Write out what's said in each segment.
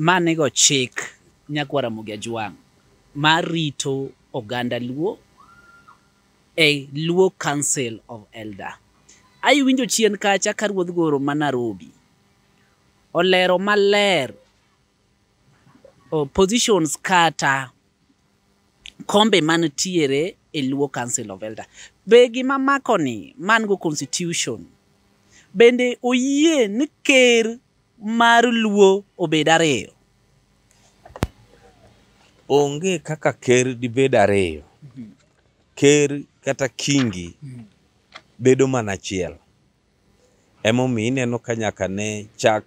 ma nigo chik Nyagwa Ramogi Ajwang' mar rito oganda Luo e Luo Council of Elder. Aiwinjo chien kacha ka Ruodh Goro ma Narobi olero maler o, positions kata kombe mantiere e Luo Council of Elder. Be gima makoni man go constitution bende oyie ni ker mar luo obed ariyo onge kaka ker dibed ariyo ker kata kingi bedo mana achiel emomiyo ineno ka nyaka ne chak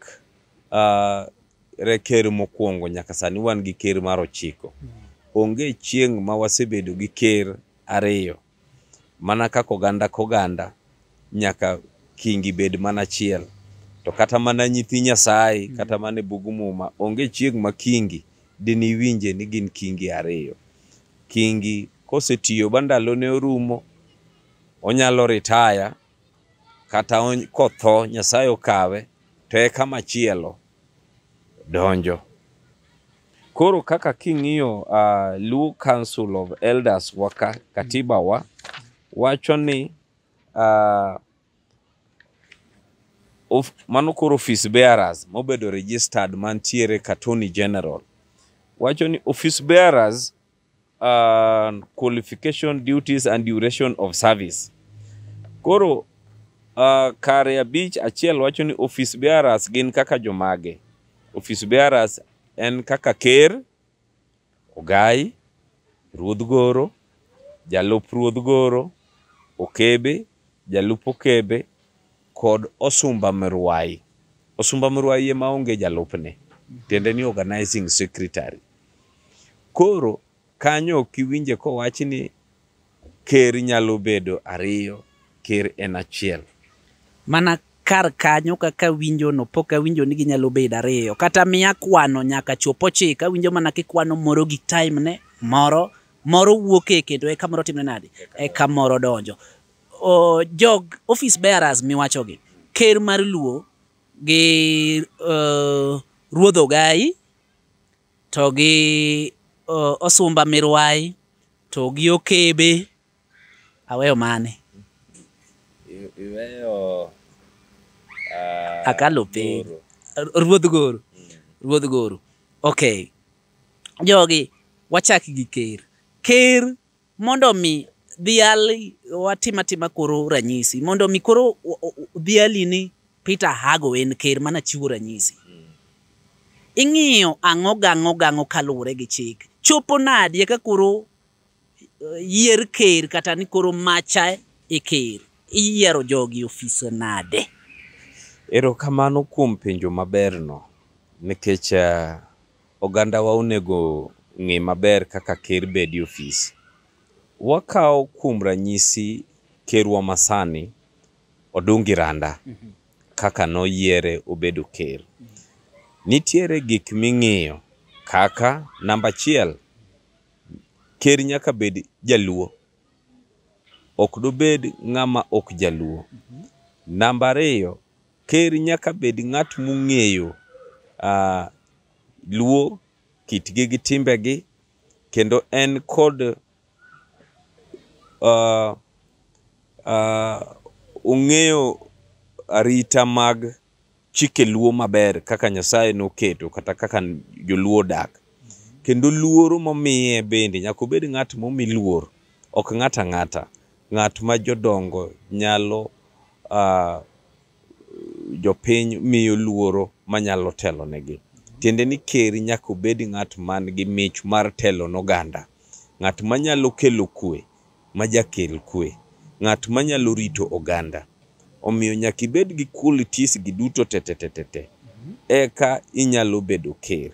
uh, re ker mokwongo nyaka sani wan gi ker mar ochiko onge chieng' ma wasebedo gi ker ariyo Mana kaka oganda koganda nyaka kingi bed mana achiel, to kata mana nyithi Nyasaye mm. kata mana e bug Muma onge chieng' ma kingi diniwinje ni gin kingi ariyo. Kingi kosetiyo ba ndalone orumo, onyalo ritaya kata kotho Nyasaye okawe to eka machielo donjo. Koro kaka king'iyo uh, Luo Council of Elders waka katiba wa wacho ni uh, of, mano koro office bearers mobedo registered mantiere ka Attorney General wacho ni office bearers uh, qualification duties and duration of service koro uh, kare abich achiel wacho ni office bearers gin kaka jomage office bearers en kaka ker ogai ruodh goro jalup ruodh goro okebe jalup okebe kod osumba mruai. Osumba mruai ema onge jalupne, tiende ni organizing secretary. Koro kanyo ok iwinje kowach ni ker nyalo bedo ariyo, ker en achiel. Mana kar kanyo kaka winjo no pok awinjo ni ginyalo bedo ariyo kata miya kwano nyaka chop ochiko awinjo mana kikwano moro gi time ne moro moro wuok e kendo eka moro timne nadi eka moro donjo o, jog office bearers miwachogi ker mar luo gi uh, ruodh ogayi to gi uh, osumba mirwayi to gi okebe aweyo mane I- iweyo ah, Akalo piny. Goro. R- ruodh goro ruodh goro okay jogi wachak gi ker ker Mondo mi dhiali watim atima koro ranyisi mondo mi koro o- o- o- dhiali ni Peter Hago en ker mana chiwo ranyisi. Ing'iyo ang'o gang'o gang'o kaluwore gi chik. Chopo nadi eka koro eh, yier ker kata ni koro macha e ker. Iyiero jogi ofise nade? Erokamano kuom penjo maberno nikech eh, Ogandawa onego ng'e maber kaka ker bed e ofis. Wakaw kuom ranyisi kerwa masani Odungi Randa kaka noyiere obedo ker. Nitiere gik ming'iyo kaka namba achiel, ker nyaka bed jaluo, ok dobed ng'ama ok jaluo. Namba ariyo, Ker nyaka bed ng'at mong'eyo uh, luo kitgi gi timbegi kendo en kod uh, uh, ong'eyo arita mag chike luo maber kaka Nyasaye noketo kata kaka joluo dak kendo luoro momiye bende nyaka obed ng'at momi luor ok ng'at ang'ata Ng'at ma jodongo nyalo a jopiny miyo luoro manyalo telonegi. Tiende ni ker nyaka obed ng'at man gi mich mar telo ne oganda. Ng'at manyalo kelo kwe, ma jakel kwe. Ng'at manyalo rito oganda. Omiyo nyaka ibed gi qualities gi duto te te te te te eka inyalo bedo ker.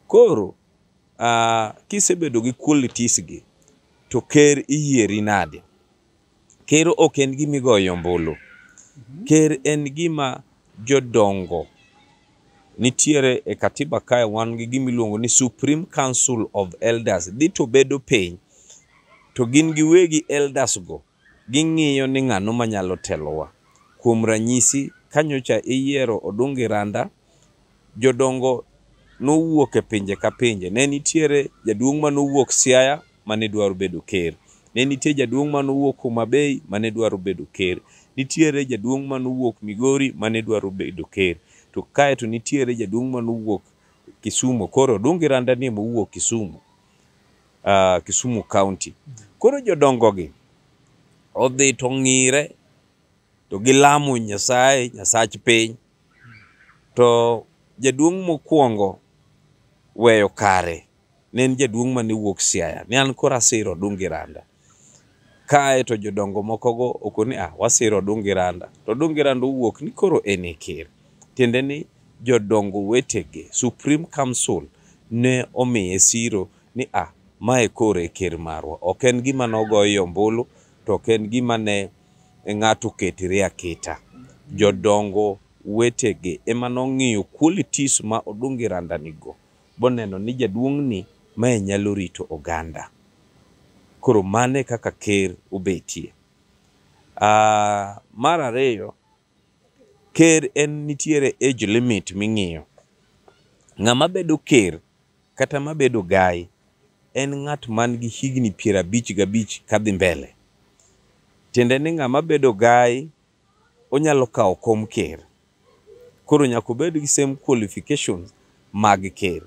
Koro uh, kisebedo gi qualities gi to ker iyieri nade ker ok en gima igoyo ombulu ker en gima jodongo nitiere e katiba kae wan gi gima iluongo ni supreme council of elders dhi to bedo piny to gin giwegi elders go Ging'iyo ni ng'ano manyalo telowa. Kuom ranyisi, ka nyocha iyiero Odungi Randa, jodongo nowuok e pinje ka pinje. Ne nitiere jaduong' mane owuok Siaya mane dwaro bedo ker. Ne nitie jaduong' mane owuok Homa Bay mane dwaro bedo ker. Nitiere jaduong' mane owuok Migori mane dwaro bedo ker. To kaeto nitiere jaduong' mane owuok Kisumo. Koro Odungi Randa ni ema owuok Kisumo. uh, Kisumu County. Koro jodongogi odhi to ng'ire to gilamo Nyasaye, Nyasach piny. To jaduong' mokwongo weyo kare ne en jaduong' mane wuok Siaya, ne an koro asiro Dungi Randa. Kae to jodongo mokogo okoni ni ah, wasiro Odungi Randa, to Odungi Randa owuok ni koro en e ker. Tiende ni jodongo wetege, Supreme Council ne omiye siro ni ah, mae koro e ker marwa. Ok en gima nogoye ombulu, to ok en gima ne ng'ato oketore aketa. Jodongo wetege ema nong'iyo qualities ma Odungi Randa nigo, boneno ni jaduong'ni mae nyalo rito oganda. Koro mano e kaka ker obetie. Ah, mar ariyo, ker en nitiere age limit ming'iyo. Ng'ama bedo ker kata mabedo gai en ng'at man gi higni piero abich gabich kadhi mbele. Tiende ni ng'ama bedo gai onyalo kawo kom ker. Koro nyaka obed gi same qualifications mag ker.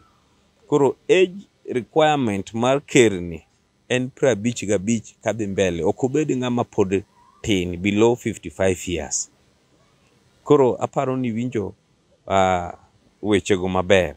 Koro age requirement mar ker ni en piero abich gabich kadhi mbele. Ok obed ng'ama pod tin below 55 years. Koro aparo ni iwinjo wechego maber.